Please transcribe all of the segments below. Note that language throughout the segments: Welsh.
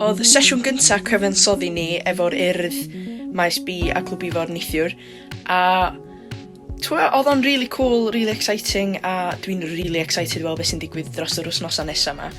Oedd sesiwn gynta cyfansoddi ni efo'r Urdd, Maes B a Clwb Ifor neithiwr, a twa, e, oedd o'n really cool, really exciting, a dwi'n really excited i weld beth sy'n digwydd dros yr wythnosau nesa yma.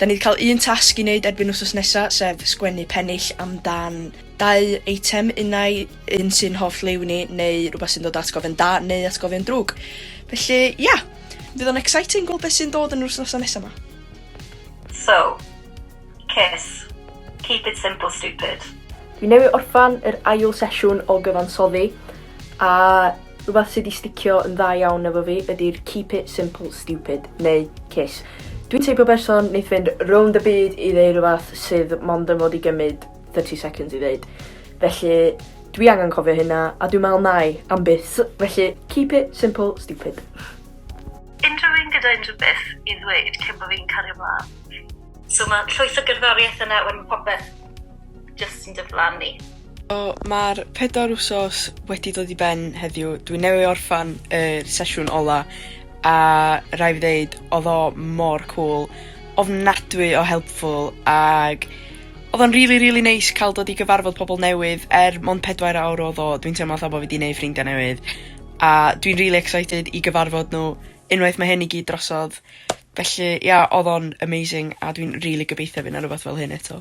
Da ni wedi cael un tasg i wneud erbyn wythnos nesa, sef sgwennu pennill amdan dau eitem, unau un sy'n hoff liw ni, neu rhywbeth sy'n dod atgofion da, neu atgofion drwg. Felly, ia! Yeah. Fydd o'n exciting gweld beth sy'n dod yn yr wythnosau nesaf ma. So, kiss. Keep it simple stupid. Fi newydd orffan yr ail sesiwn o gyfansoddi a rhywbeth sydd wedi sticio yn dda iawn efo fi ydy'r keep it simple stupid neu kiss. Dwi'n teipio berson wneith fynd rownd y byd i ddeu rhywbeth sydd mond yn fod i gymryd 30 seconds i ddeud. Felly, dwi angen cofio hynna, a dwi'n meddwl nai am byth. Felly, keep it simple, stupid. Unrhyw un gyda unrhyw beth i ddweud cyn bod fi'n cario mlaen. So mae llwyth o gerddoriaeth yna wedyn popeth just yn diflannu. So, mae'r pedwar wsos wedi dod i ben heddiw. Dwi newydd orffan y sesiwn ola a rai fi ddeud, oedd o mor cwl, ofnadwy o helpful ag Odd o'n rili rili neis ca'l dod i gyfarfod pobol newydd er mond pedwair awr odd o dwi'n teimlo fel bo' fi 'di neud ffrindia newydd a dwi'n rili excited i gyfarfod n'w unwaith ma' hyn i gyd drosodd felly ia odd o'n amazing a dwi'n rili gobeithio by' 'na rwbath fel hyn eto.